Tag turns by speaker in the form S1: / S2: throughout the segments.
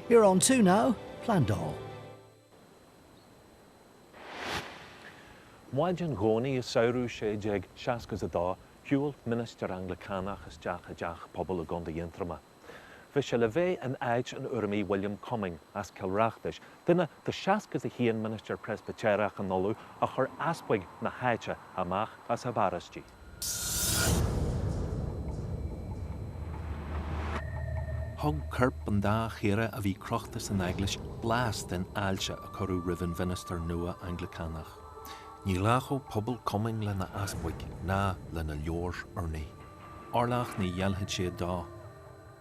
S1: You're on two now,
S2: Plandáil. Maidin Dhomhnaigh i samhradh 1662, shiúil ministir Anglacánach isteach i dteach pobail i gContae Aontroma. Bhí sé le bheith in áit an Urramaigh William Cumming as Cill Reachtais, duine de 61 ministir Preispitéireach in Uladh a chuir easpaig na háite amach as a bparóistí. Thug coirp an dá chaora a bhí crochta san eaglais blas den fháilte a cuireadh roimh an mhinistir nua Anglacánach. Ní ghlacfadh pobal Cumming lena easpaig ná lena leabhair urnaí. Orlach ní ghéillfeadh siad dó.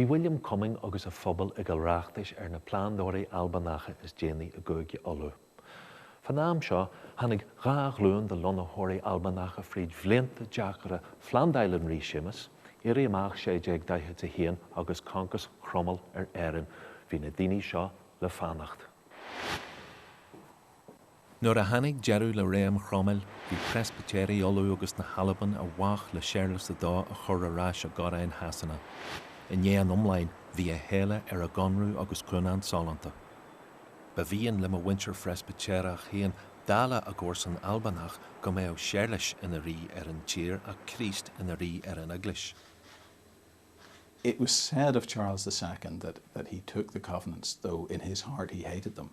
S2: Bhí William Cumming agus a phobal i gCill Reachtais ar na plandóirí Albanacha is déanaí i gCúige Uladh. Fán am seo tháinig dhá ghlúin de lonnaitheoirí Albanacha fríd bhlianta deacra Phlandáil an Rí Séamus, Éirí Amach 1641 agus concas Chromail ar Éirinn, bhí na daoine seo le fanacht. Nuair a tháinig deireadh le réim Chromail, bhí Preispitéirigh Uladh agus na hAlban i bhfách le Séarlas a Dó a chur ar ais i gcoróin Shasana. I ndiaidh an iomláin, bhí a shéala ar a gConradh agus Cúnant Sollúnta. Ba mhian le mo mhuintir Phreispitéireach féin, dála a gcomharsan Albanach, go mbeadh Séarlas ina Rí ar an tír ach Críost ina Rí ar an
S3: Eaglais. It was said of Charles the Second that he took the Covenants though in his heart he hated them.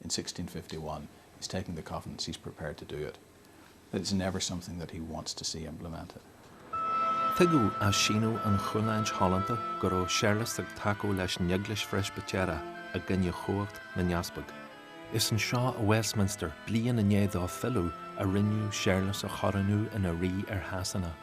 S3: in 1651 is taking the covenants he's prepared to do it, but it's never something that he wants to see implemented. Tuigeadh
S2: as síniú an Chúnáint Shollúnta go raibh Séarlas ag tacú leis an Eaglais Phreispitéireach i gcoinne chumhacht na nEaspag. Is anseo i Westminster, bliain i ndiaidh dó filleadh, a rinneadh Séarlas a chorónú ina Rí ar Shasana.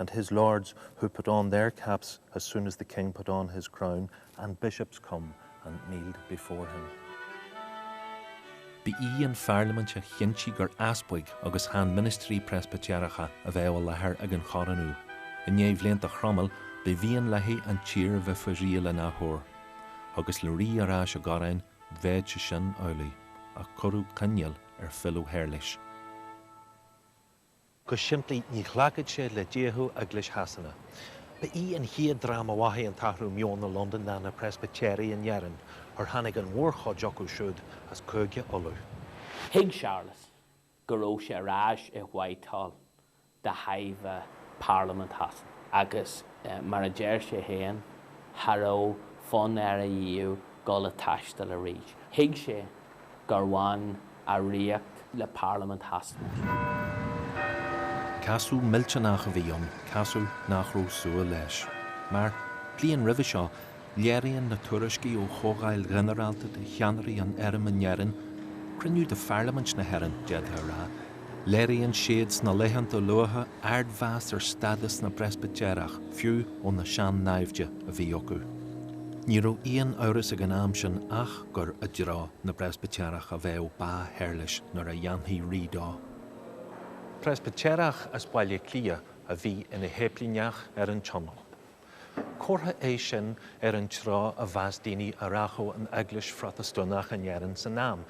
S2: and his lords who put on their caps as soon as the King put on his crown, and bishops come and kneeled before him. Ba í an pharlaimint a chinntigh gur easpaig agus chan ministrí Preispitéireacha a bheadh i láthair ag an chorónú. I ndiaidh bhlianta Chromail, ba mhian léi an tír a bheith faoi riail an athuair. Agus le rí ar ais i gcoróin, bheadh sé sin amhlaidh, ach cuireadh coinníoll ar philleadh Shéarlais. Go simplí ní ghlacfadh sé le díothú Eaglais Shasana. Ba í an chéad dream a mhothaigh an t-athrú meoin i Londain ná na Preispitéirigh in Éirinn, ar tháinig an mhórchuid acu siúd as Cúige Uladh. Thuig
S4: Séarlas go raibh sé ar ais i Whitehall de thairbhe Parlaimint Shasana agus mar a deir sé féin cha raibh fonn air ariamh dul ag taisteal arís. Thuig sé gur bhain a ríocht le Parlaimint Shasana.
S2: Casadh millteanach a bhí ann, casadh nach raibh súil leis. Mar, bliain roimhe seo, léiríonn na tuairiscí ó Chomhdháil Ghinearálta de Cheannairí an Airm in Éirinn, cruinniú de Pharlaimint na hÉireann, d'fhéadfá a rá, léiríonn siad sna laethanta luatha ardmheas ar stádas na bPreispitéireach, fiú ó na sean-naimhde a bhí acu. Ní raibh aon amhras ag an am sin ach. gur i dtreo na bPreispitéireach a bheadh bá Shéarlais nuair a dhéanfaí rí dó. Preispitéireach as Baile Átha Cliath a bhí ina shéiplíneach ar an Tionól. Comhartha é sin ar an treo a mheas daoine a rachadh an Eaglais Phrotastúnach in Éirinn san am,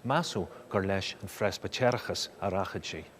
S2: measadh gur leis an Phreispitéireachas a rachadh sí.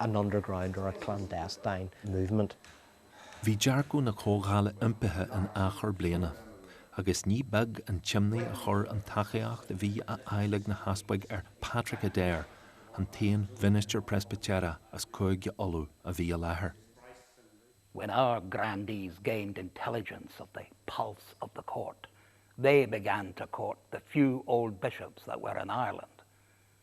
S5: an underground or a clandestine movement. Bhí
S2: dearcadh na Comhdhála iompaithe in achar bliana, agus ní beag an t-imní a chuir an tacaíocht a bhí á fháil ag na hEaspaig ar Patrick Adair, an t-aon mhinistir Preispitéireach as Cúige Uladh a bhí i láthair. When
S6: our grandees gained intelligence of the pulse of the Court, they began to court the few old bishops that were in Ireland.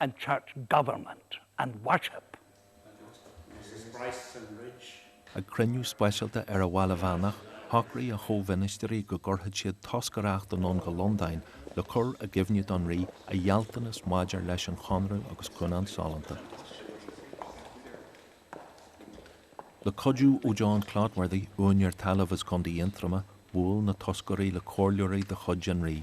S6: and church government and
S2: worship. Ag cruinniú speisialta ar an Bhaile Mheánach, shocraigh a chomh-mhinistiri go gcuirfeadh siad toscaireacht anonn go Londain le cur i gcuimhne don Rí a ghealltanas maidir leis an Chonradh agus Cúnant Sollúnta. Le cuidiú ó John Clotworthy, úinéir talaimh as Contae Aontroma, bhuail na toscairí le comhairleoirí de chuid an Rí.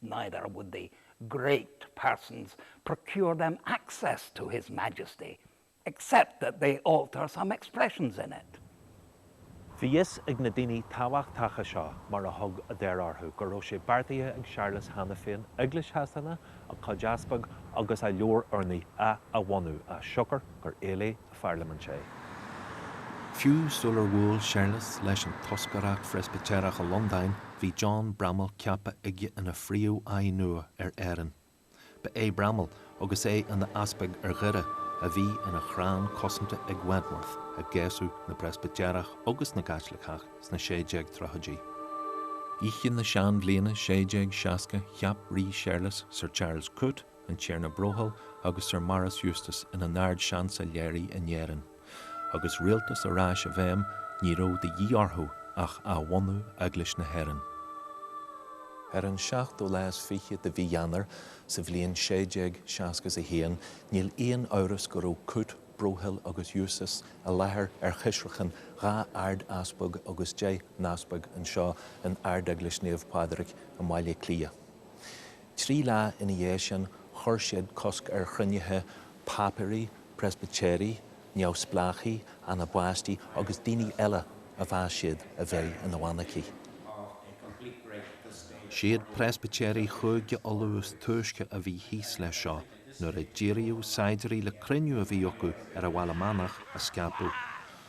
S6: neither would the great persons procure them access to His Majesty except that they alter some expressions in it. Bhí
S2: fhios ag na daoine tábhachtacha seo, mar a thug Adair orthu, go raibh sé beartaithe ag Séarlas cheana féin Eaglais Shasana, a cuid easpag agus a Leabhar Urnaí, a athbhunú as siocair gur éiligh, an Pharlaimint é. Fiú sular bhuail Séarlas leis an toscaireacht Phreispitéireach i Londain bhí John Bramhall ceaptha aige ina phríomháidh nua ar Éirinn. Ba é Bramhall, agus é ina easpag ar Dhoire, a bhí ina chrann cosanta ag Wentworth i gcéasadh na bPreispitéireach agus na gCaitliceach sna 1630idí. Oíche na seanbhliana 1660 cheap Rí Séarlas Sir Charles Coote, an Tiarna Broghill agus Sir Maurice Eustace ina nArd-Seansailéirí in Éirinn. Agus rialtas ar ais i bhfeidhm, ní raibh de dhíth orthu ach athbhunú Eaglais na hÉireann. Ar an seachtú lá is fiche de Mhí Eanáir sa bhliain 1661, níl aon amhras go raibh Coote, Broghill agus Eustace i láthair ar choisreacan dhá Ard-Easpag agus deich nEaspag anseo in Ardeaglais Naomh Pádraig i mBaile Átha Cliath. Trí lá ina dhiaidh sin chuir siad cosc ar chruinnithe Pápairí, Preispitéirigh, Neamhspleáchaigh, Anabaistigh agus daoine eile a mheas siad a bheith ina bhfanaicigh. Siad Preispitéirigh Chúige Uladh is túisce a bhí thíos leis seo nuair a díríodh saighdiúirí le cruinniú a bhí acu ar an Bhaile Meánach a scaipeadh.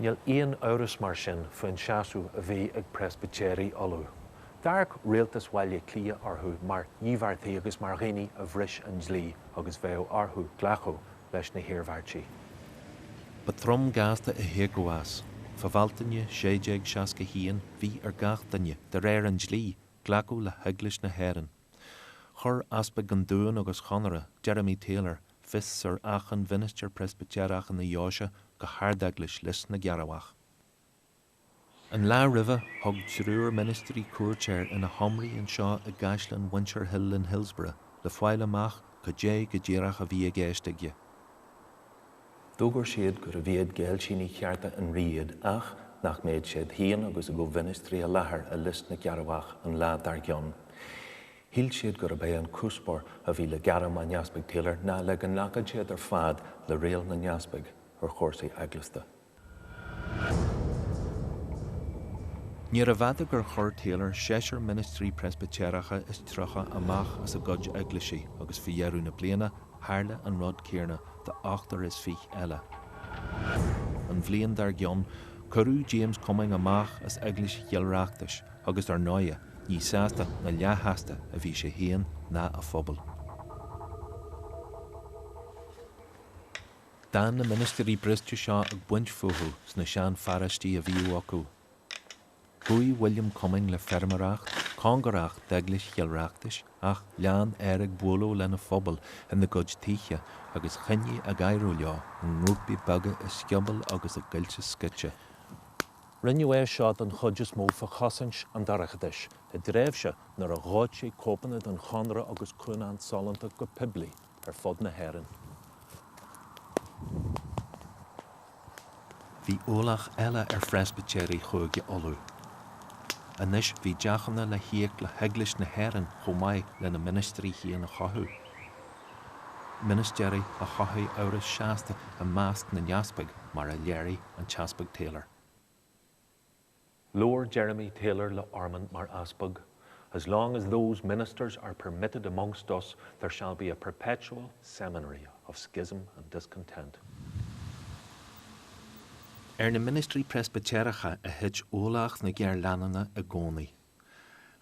S2: Níl aon amhras mar sin faoin seasamh a bhí ag Preispitéirigh Uladh. D'amharc Rialtas Bhaile Átha Cliath orthu mar dhíbeartaigh agus mar dhaoine a bhris an dlí agus bheadh orthu glacadh leis na hiarmhairtí. Ba throm gasta a thiocfadh as. Fá Bhealtaine 1661 bhí ar gach duine, de réir an dlí, glacadh le hEaglais na hÉireann. Chuir Easpag an Dúin agus Chonaire, Jeremy Taylor, Fios ar achan mhinistir Preispitéireach ina dheoise go hArdeaglais Lios na gCearrbhach. An lá roimhe, thug triúr ministirí cuairt air ina sheomraí anseo i gCaisleán Mhuintir Hill in Hillsborough le fáil amach cad é go díreach a bhí i gceist aige. D'fhógair siad gurbh iad géillsinigh chearta an rí iad ach nach mbeadh siad féin agus a gcomh-mhinistrí i láthair i Lios na gCearrbhach an lá dár gcionn. Shíl siad gurb é an cuspóir a bhí le gairm an Easpaig Taylor ná le go nglacfadh siad ar fad le riail na nEaspaig ar chúrsaí eaglasta. Níor fhada gur chuir Taylor seisear ministrí Preispitéireacha is tríocha amach as a gcuid eaglaisí agus faoi dheireadh na bliana tharla an rud céarna d'ochtar is fiche eile. An bhliain dár gcionn, cuireadh James Cumming amach as Eaglais Chill Reachtais agus, ar ndóighe, Ní sásta ná leathshásta a bhí sé féin ná a phobal. D'fhan na ministirí briste seo ag baint fúthu sna sean-pharóistí a bhíodh acu. Chuaigh William Cumming le feirmeoireacht, cóngarach d'Eaglais Chill Reachtais ach lean air ag bualadh lena phobal ina gcuid tithe agus choinnigh ag adhradh leo i ngrúpaí beaga i sciobóil agus i gcoillte scoite. Rinneadh é seo den chuid is mó fá chosaint an dorchadais i dtréimhse nuair a dhóití cóipeanna den Chonradh agus Cúnant Sollúnta go poiblí ar fud na hÉireann. Bhí ualach eile ar Phreispitéirigh Chúige Uladh. Anois bhí deachúna le híoc le hEaglais na hÉireann chomh maith lena ministrí féin a chothú. ministéirí a chothaigh amhras seasta i measc na n-easpag mar a léirigh an tEaspag Taylor. Labhair Jeremy Taylor le Ormond mar easpag, As long as those ministers are permitted amongst us there shall be a perpetual seminary of schism and discontent. Ar na ministrí Preispitéireacha a thit ualach na géarleanúna i gcónaí.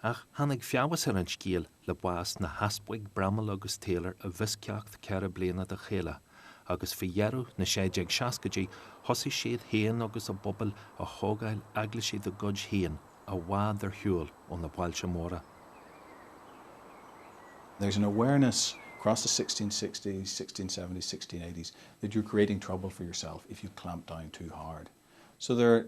S2: Ach tháinig feabhas ar an scéal le bás na nEaspag Bramhall agus Taylor i bhfoisceacht ceithre bliana de chéile, agus faoi dheireadh na 1660idí thosaigh siad féin agus a bpobal a thógáil eaglaisí dá gcuid féin i bhfad ar shiúl ó na bailte
S3: móra. There's an awareness across the 1660s, 1670s, 1680s that you're creating trouble for yourself if you clamp down too hard. So there.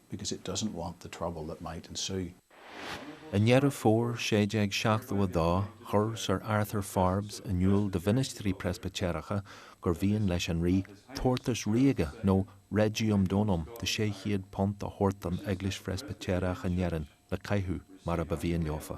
S3: because it doesn't want the trouble that might ensue.
S2: I nDeireadh Fómhair 1672 chuir Sir Arthur Forbes in iúl do mhinistrí Preispitéireacha gur mhian leis an rí tabhartas ríoga nó regium donum de £600 a thabhairt don Eaglais Phreispitéireach in Éirinn le caitheamh mar a ba mhian leofa.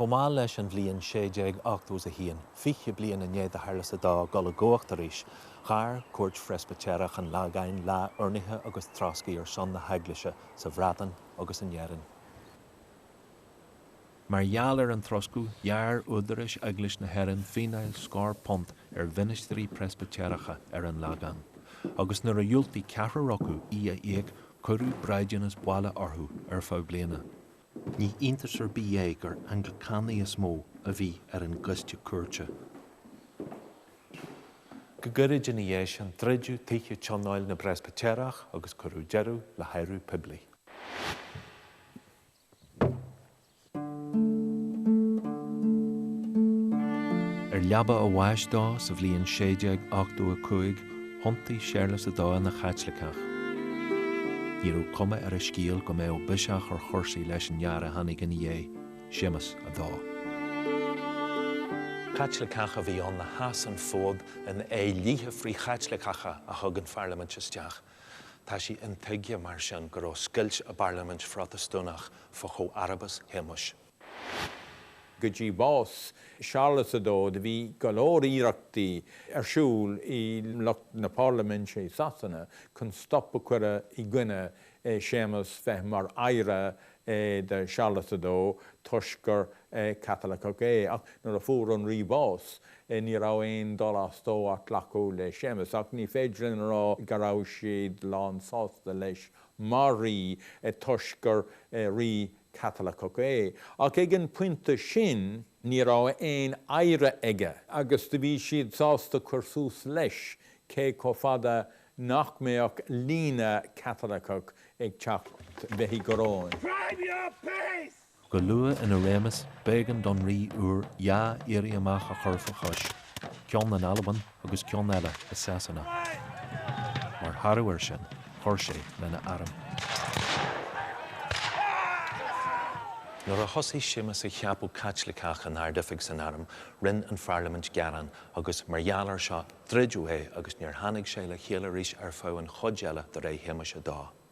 S2: Chomh mall leis an bhliain 1681, fiche bliain i ndiaidh do Shearlas a Dó dul i gcumhacht arís, ghair cúirt Phreispitéireach an Lagáin lá urnaithe agus troscaidh ar son na hEaglaise sa Bhreatain agus in Éirinn. Mar gheall ar an troscadh, ghearr údaráis Eaglais na hÉireann fíneáil scór punt ar mhinistrí Preispitéireacha ar an Lagán, agus nuair a dhiúltaigh ceathrar acu í a íoc cuireadh braighdeanas baile orthu ar feadh bliana. Ní iontas ar bith é gur Anglacánaigh is mó a bhí ar an gcoiste cuairte. Go gairid ina dhiaidh sin druideadh tithe tionóil na bPreispitéireach agus cuireadh deireadh le hadhradh poiblí. Ar leaba a bháis dó sa bhliain 1685, thiontaigh Séarlas a Dó ina Chaitliceach. Ní raibh cuma ar an scéal go mbeadh biseach ar chúrsaí leis an fhear a tháinig ina dhiaidh, Séamas a Dó. Caitliceach a bhí ann a sheas an fód in aghaidh dlíthe frith-Chaitliceacha a thug an Pharlaimint isteach. Tá sé intuigthe, mar sin, go raibh scoilt i bParlaimint Phrotastúnach fá chomharbas Shéamais.
S7: Go dtí bás Séarlas a Dó do bhí go leor iarrachtaí ar siúl ag lucht na Parlaiminte i Sasana chun stop a chur i gcoinne Séamas bheith mar oidhre do Séarlas a Dó toisc gur Caitiliceach é. Ach nuair a fuair an Rí bás ní raibh aon dul as dóibh ach glacadh le Séamas. Ach ní féidir linn a rá go raibh siad lán sásta leis mar rí é toisc gur rí Caitiliceach é, ach ag an pointe sin ní raibh aon oidhre aige, agus do bhí siad sásta cur suas leis cé chomh fada nach mbeadh líne Caitiliceach ag teacht bheith i gcoróin. Drive your pace!
S2: Go luath ina réimeas, b'éigean don rí úr dhá éirí amach a chur faoi chois, ceann in Albain agus ceann eile i Sasana. Mar thoradh air sin, chuir sé lena arm. Nuair a thosaigh Séamus ag ceapadh Caitliceach in ardoifig san arm, rinne an pharlaimint gearán agus, mar gheall air seo, druideadh é agus níor tháinig sé le chéile arís ar feadh an chuid eile de ré Shéamuis a Dó.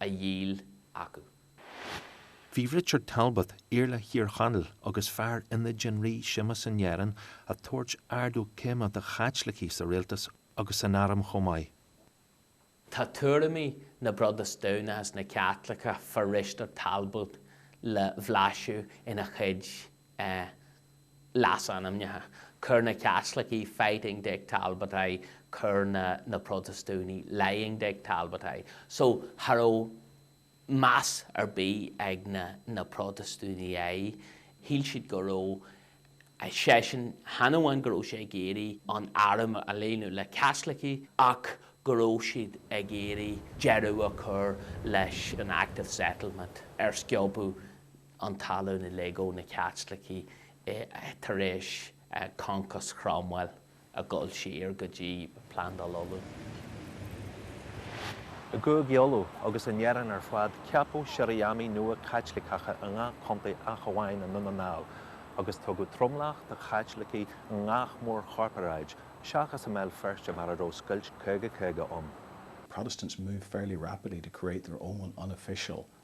S4: a dhíol acu.
S2: Bhí Richard Talbot, Iarla Thír Chonaill agus fear ionaid an Rí Séamus in Éirinn, ag tabhairt ardú céime do Chaitlicigh sa rialtas agus san arm chomh maith.
S4: Tá tuairimí na bProtastúnach agus na Caitliceach fá Risteard Talbot le bhlaiseadh ina chuid leasainmneacha. Chuir na Caitlicigh Fighting Dick Talbot air, chuir na Protastúnaigh Lying Dick Talbot air. So, cha raibh meas ar bith ag na na Protastúnaigh air, shíl siad go raibh, seisean, chan amháin go raibh sé ag iarraidh an arm a líonadh le Caitlicigh ach go raibh siad ag iarraidh deireadh a chur leis an Act of Settlement ar sciobadh an talamh uilig ó na Caitlicigh tar éis concas Chromwell ag dul siar go dtí Plandáil Uladh.
S2: I gCúige Uladh agus in Éirinn ar fad ceapadh Sirriamaí nua Caitliceacha i ngach contae ach amháin i nDún na nGall, agus tugadh tromlach do Chaitlicigh i ngach mórchorparáid, seachas i mBéal Feirste mar a raibh scoilt 50 50 ann. Protestants
S3: moved fairly rapidly to create their own unofficial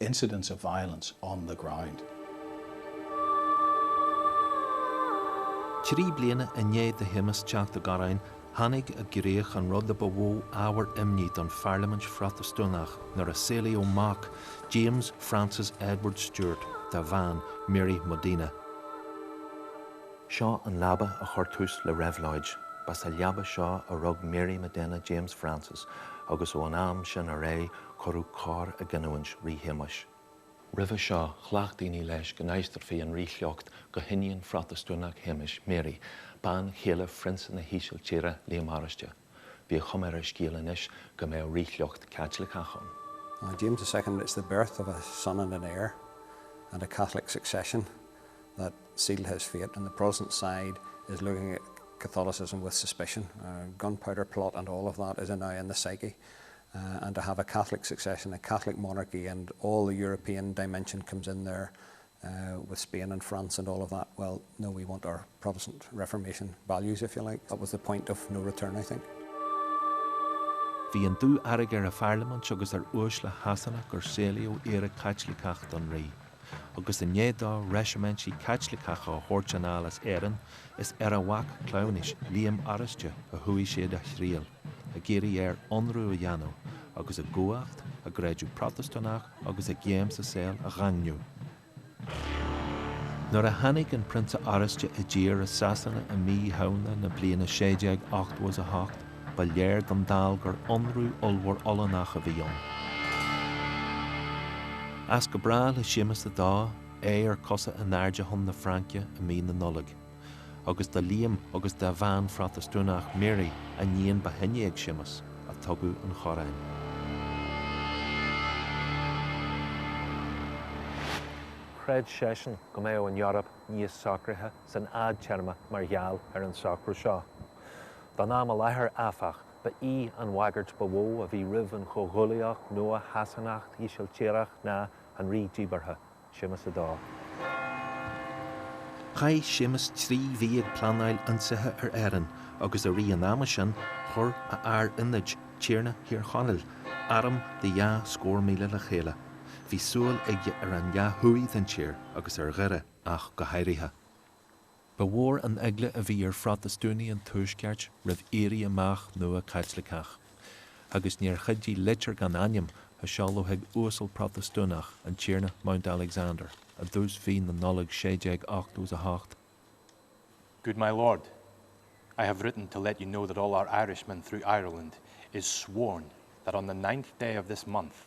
S3: incidents of violence on the
S2: ground. Trí bliana i ndiaidh do Shéamus teacht i gcoróin tháinig i gcrích an rud a ba mhó ábhar imní don Pharlaimint Phrotastúnach nuair a saolaíodh mac, James Francis Edward Stuart, dá bhean, Mary Modena. Seo an leaba a chuir tús le Reabhlóid. Ba sa leaba seo a rug Mary Modena James Francis agus ón am sin ar aghaidh Cuireadh cor i gcinniúint Rí Shéamais. Roimhe seo, ghlac daoine leis go n-aistreofaí an ríshliocht go hiníon Phrotastúnach Shéamais, Mary, bean chéile Phrionsa na hÍsiltíre, Liam Oráiste. Bhí a chuma ar an scéal anois go mbeadh ríshliocht Caitliceach ann. For James
S8: the Second, it's the birth of a son and an heir, and a Catholic succession, that sealed his fate, and the Protestant side is looking at Catholicism with suspicion. Gunpowder plot and all of that is now in the psyche and to have a Catholic succession, a Catholic monarchy and all the European dimension comes in there with Spain and France and all of that, well no we want our Protestant Reformation values if you like, that was the point of no return I think.
S2: Bhí an dúfhearg ar an Pharlaimint agus ar uaisle Shasana gur saolaíodh oidhre Caitliceach don Rí, agus i ndiaidh dó reisimintí Caitliceacha a thabhairt anall as Éirinn is ar a mhac cleamhnais, Liam Oráiste, a chuaigh siad a dtriall. ag iarraidh air ionradh a dhéanamh agus a gcumhacht, a gcreideamh Protastúnach agus a gcéim sa saol a dhaingniú. Nuair a tháinig an Prionsa Oráiste i dtír i Sasana i Mí Shamhna na bliana 1688, ba léir don dall gur ionradh ollmhór Ollannach a bhí ann. As go brách le Séamus a Dó, é ar cosa in airde chun na Fraince i Mí na Nollag. agus do Liam agus dá bhean Phrotastúnach Mary, an iníon ba shine ag Séamus, a tugadh an
S9: choróin. Chreid seisean go mbeadh an Eoraip níos socraithe san fhadtéarma mar gheall ar an socrú seo. Don am i láthair, áfach, ba í an bhagairt ba mhó a bhí roimh an Chomhghuaillíocht nua Shasanach-Ísiltíreach ná an rí díbeartha, Séamus a Dó.
S2: Chaith Séamus trí mhí ag pleanáil ionsaithe ar Éirinn agus i rith an ama sin chuir a fhear ionaid, Tiarna Thír Chonaill, arm de dhá scór míle le chéile. Bhí súil aige ar an leath thuaidh den tír agus ar Dhoire ach go háirithe. Ba mhór an eagla a bhí ar Phrotastúnaigh an Tuaiscirt roimh éirí amach nua Caitliceach, agus níor chuidigh litir gan ainm a seoladh chuig uasal Protastúnach, an Tiarna Mount Alexander, i dtús mhí na Nollag
S10: 1688, Good my Lord, I have written to let you know that all our Irishmen through Ireland is sworn that on the 9th day of this month,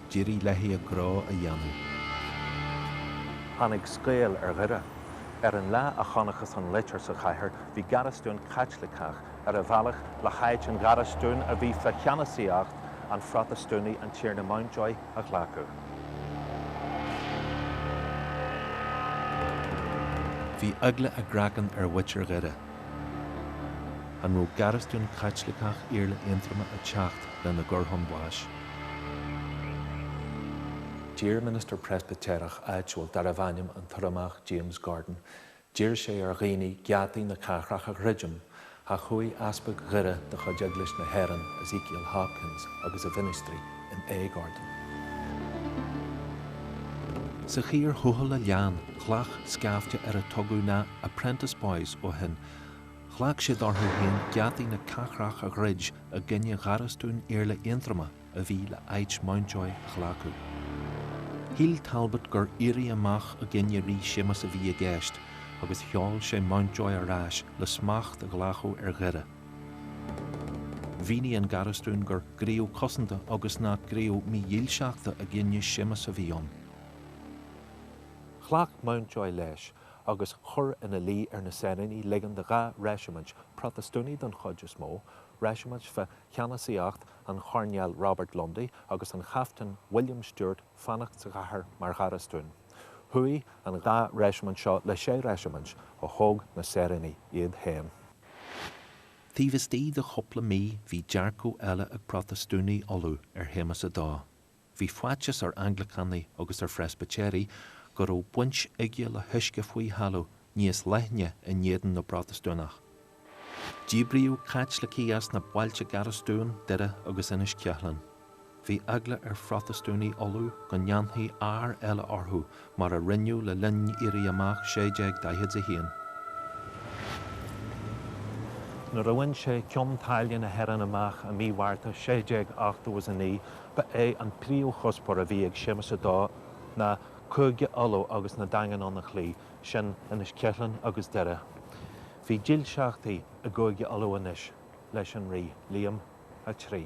S2: D'éirigh léi a gnó a dhéanamh.
S9: Tháinig scaoll ar Dhoire. Ar an lá a chonacthas an litir sa chathair bhí garastún Caitliceach ar a bhealach le háit an gharastúin a bhí faoi cheannasaíocht an Phrotastúnaigh an Tiarna Mountjoy a
S2: ghlacadh. Bhí eagla a gcraicinn ar mhuintir Dhoire. An raibh garastún Caitliceach Iarla Aontroma ag teacht lena gcur chun báis?
S9: D'iarr ministir Preispitéireach áitiúil darbh ainm an tUrramach James Gordon, d'iarr sé ar dhaoine geataí na cathrach a dhruidim, ach chuaigh Easpag Dhoire de chuid Eaglais na hÉireann, Ezekiel Hopkins, agus a mhinistrí, in éag
S2: orthu. Sa chíor thuathail a lean ghlac scaifte ar ar tugadh na 'Apprentice Boys' ó shin, ghlac siad orthu féin geataí na cathrach a dhruid i gcoinne gharastún Iarla Aontroma a bhí le h-áit Mountjoy a ghlacadh. Shíl Talbot gur éirí amach i gcoinne Rí Séamus a bhí i gceist agus sheol sé Mountjoy ar ais le smacht a ghlacadh ar Dhoire. Mhínigh an garastún gur gníomh cosanta agus nach gníomh mídhílseachta i gcoinne Séamus a bhí
S9: ann. Ghlac Mountjoy leis agus chuir ina luí ar na saoránaigh ligean do dhá reisimint, Protastúnaigh don chuid is mó, reisimint fa cheannasaíocht an Choirnéil Robert Lundy agus an Chaiftin William Stewart fanacht sa gcathair mar gharastún. Chuaigh an dhá reisimint seo le sé reisimint a thóg na saoránaigh iad féin.
S2: Taobh istigh de chúpla mí bhí dearcadh eile ag Protastúnaigh Uladh ar Shéamas a Dó. Bhí faitíos ar Anglacánaigh agus ar Phreisbitéirigh go raibh baint aige le huisce faoi thalamh níos leithne in éadan na bProtastúnach. Díbríodh Caitlicigh as na bailte garastúin, Doire agus Inis Ceithleann. Bhí eagla ar Phrotastúnaigh Uladh go ndéanfaí ár eile orthu mar a rinneadh le linn Éirí Amach 1641.
S9: Nuair a bhain sé Cionn tSáile na hÉireann amach i mí Mhárta 1689 ba é an príomhchuspóir a bhí ag Séamus a Dó ná Cúige Uladh agus na daingin ann a chloí, sin Inis Ceithleann agus Doire. Bhí dílseachtaí i gCúige Uladh anois leis an Rí Liam a Trí.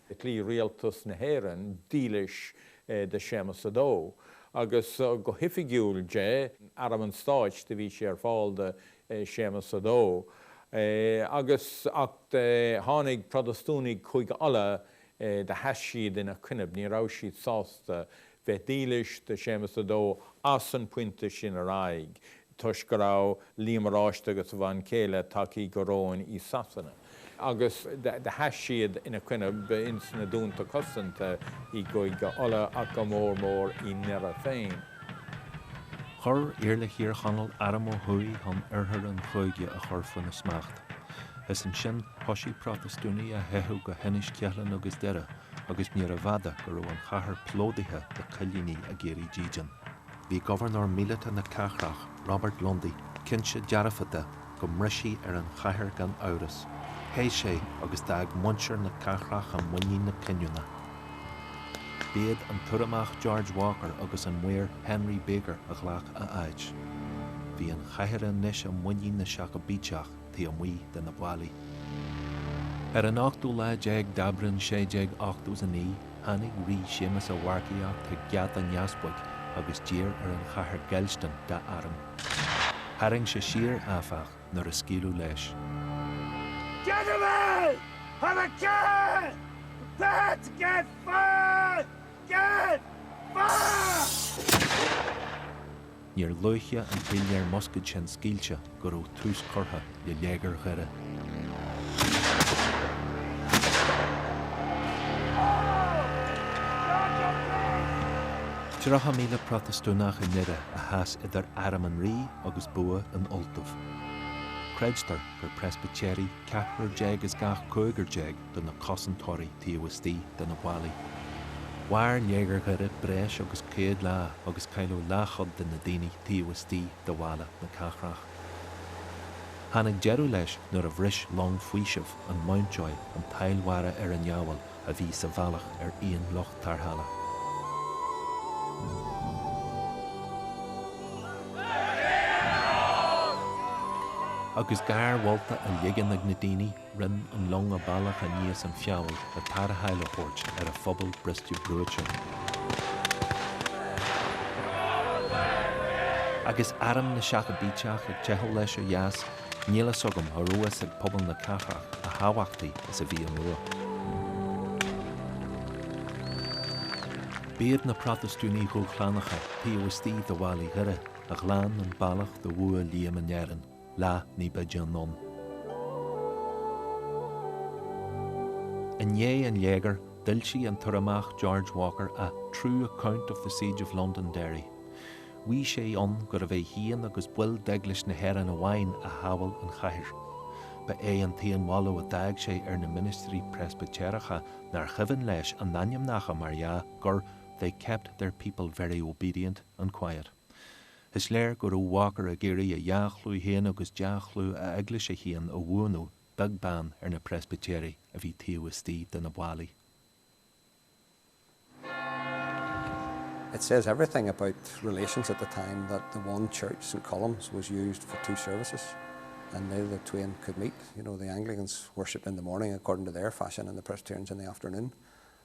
S7: Chloígh Rialtas na hÉireann dílis
S3: do
S7: Séamas a Dó agus go hoifigiúil d'Arm an Stáit do bhí sé ar fáil do Séamas a Dó agus ach tháinig Protastúnaigh Chúige Uladh do sheas siad ina coinnibh ní raibh siad sásta bheith dílis do Séamas a Dó as an pointe sin ar aghaidh. toisc go raibh Liam Oráiste agus a bhean chéile tagthaí go réim i Sasana agus do sheas siad ina coinnibh ins na dúnta cosanta i gCúige Uladh ach go mór mór i nDoire féin.
S2: Chuir Iarla Thír Chonaill arm ó thuaidh chun oirthear an chúige a chur faoina smacht. Is ansin thoisigh Protastúnaigh a theicheadh go hInis Ceithleann agus Doire agus níorbh fhada go raibh an chathair plódaithe le coilínigh ag iarraidh dídean. Bhí Gobharnóir Míleata na Cathrach, Robert Lundy, cinnte dearfa de go mbrisfí ar an chathair gan amhras. Theith sé agus d'fhág muintir na cathrach i muinín na cinniúna. B'iad an tUrramach George Walker agus an Maor Henry Baker a ghlac a áit. Bhí an chathair anois i muinín na Seacaibíteach taobh amuigh de na ballaí. Ar an ochtú lá déag d'Aibreán 1689, Tháinig Rí Séamus ag marcaíocht chuig Geata an Easpaig agus d'iarr ar an chathair géillstin dá arm. Tharraing sé siar, áfach, nuair a scaoileadh leis.
S11: Gentlemen, have a care! Prepare to give fire! Give fire!
S2: Níor luaithe an píléir muscaed sin scaoilte ná go raibh tús curtha le Léigear Dhoire. Tríocha míle Protastúnach i nDoire a sheas idir arm an rí agus bua in Ultaibh. Creidtear gur Preispitéirigh ceathrar déag as gach cúigear déag de na cosantóirí taobh istigh de na ballaí. Mhair Léigear Dhoire breis agus céad lá agus cailleadh leathchuid de na daoine taobh istigh de bhallaí na cathrach. Tháinig deireadh leis nuair a bhris long faoisimh an Mountjoy an tsail mhara ar an Fheabhal a bhí sa bhealach ar aon lucht tarrthála. Agus gáir mholta á ligean ag na daoine, Rinne an long a bealach aníos an Feabhal le tarrtháil a thabhairt ar an phobal briste brúite. Agus arm na Seacaibíteach ag teitheadh leis ó dheas, níl fhios agam an raibh a fhios ag pobal na cathrach a thábhachtaí is a bhí an bua. B'iad na Protastúnaigh dhúshlánacha taobh istigh de bhallaí Dhoire a ghlan an bealach do bhua Liam in Éirinn. lá ní b'fhaide anonn. I ndiaidh an léigir, d'fhoilsigh an tUrramach George Walker A True Account of the Siege of Londonderry. Mhaígh sé ann gurbh é féin agus baill d'Eaglais na hÉireann amháin a shábháil an chathair. Ba é an t-aon mholadh a d'fhág sé ar na ministrí Preispitéireacha, nár chuimhin leis a n-ainmneacha, mar dhea, gur They kept their people very obedient and quiet. Is léir go raibh Walker ag iarraidh a dhea-chlú féin agus dea-chlú a eaglaise féin a bhuanú beag beann ar na Preispitéirigh a bhí taobh istigh de na ballaí.
S8: It says everything about relations at the time that the one church, St Columb's, was used for two services and neither the twain could meet, you know, the Anglicans worshipped in the morning according to their fashion and the Presbyterians in the afternoon.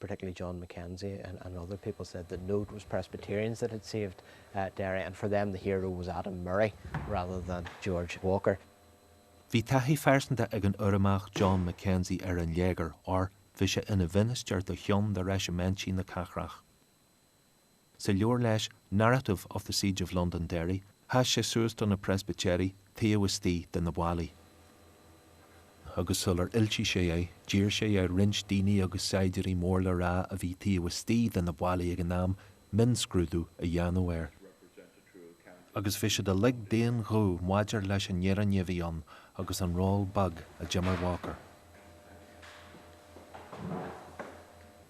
S5: particularly John McKenzie and and other people said that no it was Presbyterians that had saved eh Derry and for them the hero was Adam Murray rather than George Walker. Bhí
S2: taithí phearsanta ag an Urramach John McKenzie ar an léigear or bhí sé ina mhinistir do cheann de reisimintí na cathrach. Sa leabhar leis, Narrative of the Siege of Londonderry, sheas sé suas do na Preispitéirigh taobh istigh de na ballaí, agus sular fhoilsigh sé é, d'iarr sé ar roinnt daoine agus saighdiúirí mór le rá a bhí taobh istigh de na ballaí ag an am mionscrúdú a dhéanamh air. agus bhí siad uilig d'aon ghuth maidir leis an fhírinne a bhí ann agus an ról beag a d'imir Walker.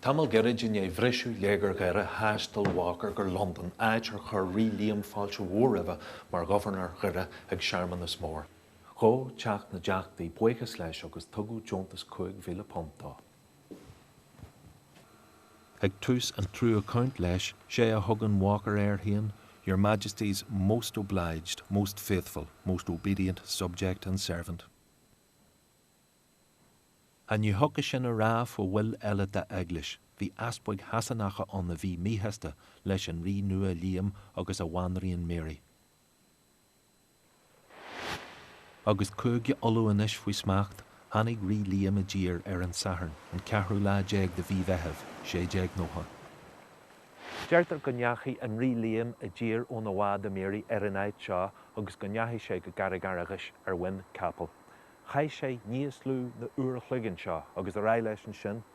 S2: Tamall gairid i ndiaidh bhriseadh Léigear Dhoire thaistil Walker go Londain áit ar chuir Rí Liam fáilte mhór roimhe mar Ghobharnóir Dhoire ag searmanas mór. Ghabh Teach na dTeachtaí buíochas leis agus tugadh deontas £5,000 dó. Ag tús an True Account leis, sé a thugann Walker air féin, Your Majesty's most obliged, most faithful, most obedient subject and servant. Ach ní thiocfadh sin a rá fá bhaill eile dá Eaglais, bhí easpaig Shasanacha ann a bhí míshásta leis an Rí nua Liam agus a bhanríon Mary. Agus Cúige Uladh anois faoi smacht, tháinig Rí Liam i dtír ar an Satharn, an ceathrú lá déag de Mhí Mheithimh, 1690.
S9: Deirtear go ndeachaigh an Rí Liam i dtír óna bhád The Mary ar an áit seo agus go ndeachaigh sé go Carraig Fhearghais ar mhuin capaill. Chaith sé níos lú ná uair an chloig anseo, agus ar aghaidh leis ansin.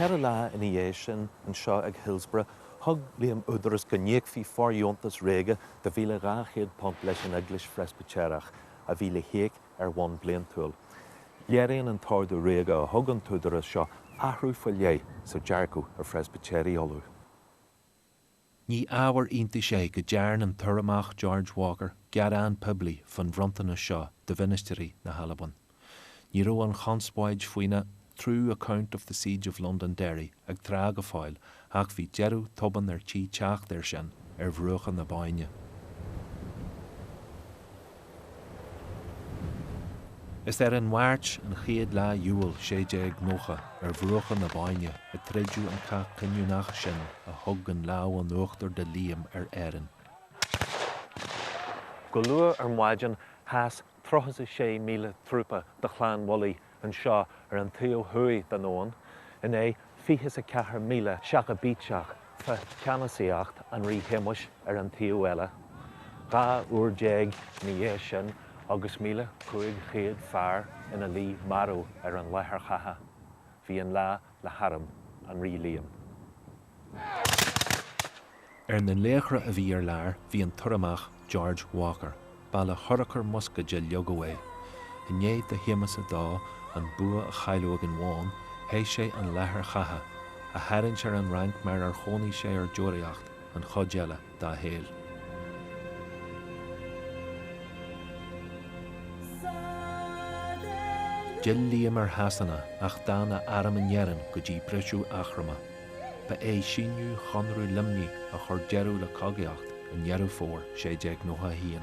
S8: Ceithre lá
S9: ina dhiaidh sin, anseo ag Hillsborough, thug Liam údaras go n-íocfaí fóirdheontas ríoga de £1,200 leis an Eaglais Phreispitéireach a bhí le híoc ar bhonn bliantúil. Léiríonn an t-ordú ríoga a thug an t-údarás seo athrú faoi leith sa dearcadh ar Phreispitéirigh Uladh.
S2: Ní ábhar iontais é go dtearn an tUrramach George Walker gearán poiblí fán bhronntanas seo do mhinistrí na hAlban. Ní raibh an chonspóid faoina True account of the Siege of Londonderry ag trá go fóill ach bhí deireadh tobann ar tí teacht air sin ar bhruacha na Bóinne. Is ar an Mháirt, an chéad lá d'Iúil 1690, ar bhruacha na Bóinne a troideadh an cath cinniúnach sin a thug an lámh in uachtar do Liam ar
S9: Éirinn. Go luath ar maidin sheas 36,000 trúpa de Chlann Bhullaí Anseo ar an taobh thuaidh den abhainn in aghaidh 24,000 Seacaibíteach fá cheannasaíocht an Rí Shéamuis ar an taobh eile. Dhá uair déag ina dhiaidh sin agus míle cúig chéad fear ina luí marbh ar an láthair chatha bhí an lá le harm an Rí
S2: Liam. Ar na laochra a bhí ar lár bhí an tUrramach George Walker, ba le hurchar muscaeid a leagadh é. I ndiaidh do Shéamus a Dó an bua a chailleadh ag an Bhóinn, theith sé an láthair chatha, a tharraingt ar an Fhrainc mar ar chónaigh sé ar deoraíocht, an chuid eile. dá shaol. D'fhill Liam ar Shasana ach d'fhan a arm in Éirinn go dtí briseadh Eachroma. Ba é síniú Chonradh Luimnigh a chuir deireadh le cogaíocht i nDeireadh Fómhair 1691.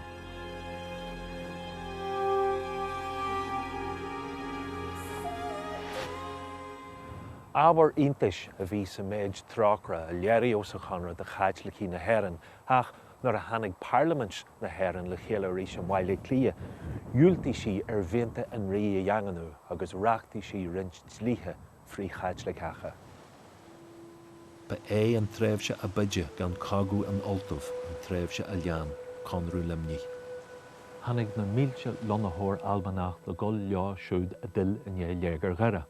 S9: Ábhar iontais a bhí sa méid trócaire a léiríodh sa Chonradh do Chaitlicigh na hÉireann ach nuair a tháinig Parlaimint na hÉireann le chéile arís i mBaile Átha Cliath dhiúltaigh sí mianta an Rí a dhaingniú agus reachtaigh sí roinnt dlíthe
S2: frith-Chaitliceacha. Ba é an tréimhse ab fhaide gan cogadh in Ultaibh an tréimhse a lean Conradh Luimnigh. Tháinig
S9: na mílte lonnaitheoir Albanach le dhul leo siúd a d'fhill i ndiaidh Léigear Dhoire.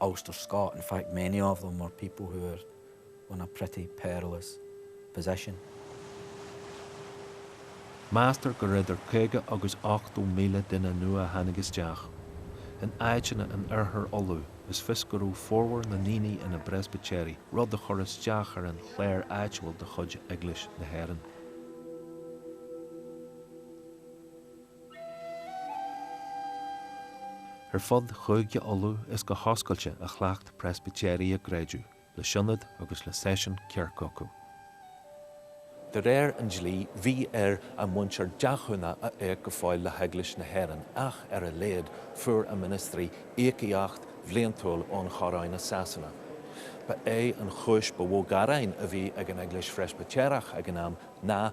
S12: Ulster Scot, in fact many of them were people who were in a pretty perilous position.
S2: Meastar go raibh idir 50 agus 80 míle duine nua a tháinig isteach. In áiteanna in Oirthear Uladh is fios go raibh formhór na ndaoine ina bPreispitéirigh, rud a chur isteach ar an chléir áitiúil de chuid Eaglais na hÉireann. Ar fud Chúige Uladh is go hoscailte a chleacht Preispitéirigh a gcreideamh, le sionad agus le seisiún kirk acu. De réir an dlí bhí ar a muintir deachúna a íoc go fóill le hEaglais na hÉireann ach, ar a laghad, fuair a ministrí íocaíocht bhliantúil ón Choróin i Sasana. Ba é an chúis ba mhó gearáin a bhí ag an Eaglais Phreispitéireach ag an am ná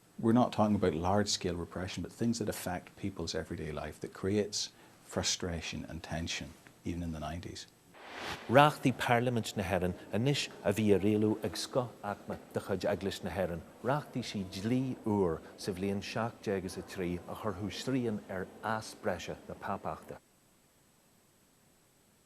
S3: we're not talking about large scale repression but things that affect people's everyday life that creates frustration and tension, even in the nineties.
S2: Reachtaigh Parlaimint na hÉireann anois a bhí á rialú ag scoth-aicme de chuid Eaglais na hÉireann. Reachtaigh sí dlí úr sa bhliain seacht déag is a trí a chuirfeadh srian ar fhás breise na pápachta.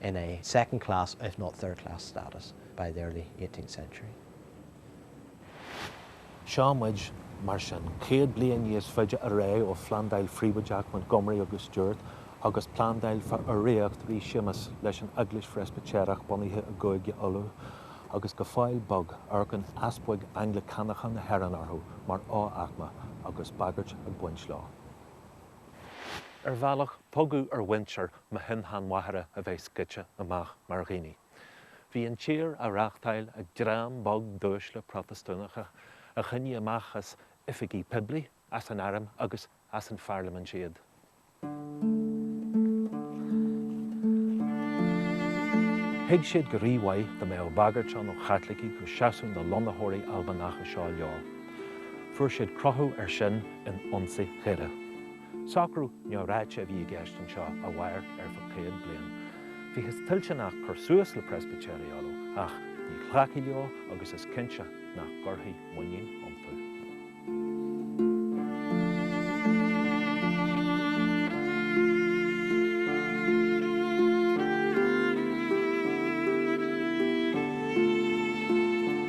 S5: in a second class if not third class status by the early eighteenth
S9: century. Seo muid, mar sin, céad bliain níos faide ar aghaidh ó phlandáil phríobháideach Montgomery agus Stuart agus plandáil faoi urraíocht Rí Séamus leis an Eaglais Phreispitéireach bunaithe i gCúige Uladh, agus go fóill beo amharcann easpaig Anglacánacha na hÉireann orthu mar fho-aicme, agus bagairt ag baint leo. Ar bhealach, tugadh ar mhuintir mo shin-sheanmháthara a bheith scoite amach mar dhaoine. Bhí an tír á reachtáil ag dream beag d'uaisle Protastúnacha a choinnigh amach as oifigí poiblí, as an airm agus as an pharlaimint iad. Thuig siad go rímhaith dá mbeadh bagairt ann ó Chaitlicigh go seasfadh na lonnaitheoirí Albanacha seo leo. Fuair siad cruthú air sin in ionsaí Dhoire. Socrú neamhráite a bhí i gceist anseo a mhair ar feadh céad bliain. Bhíothas toilteanach cur suas le Preispitéirigh Uladh, ach ní ghlacfaí leo agus is cinnte nach gcuirfí muinín iontu.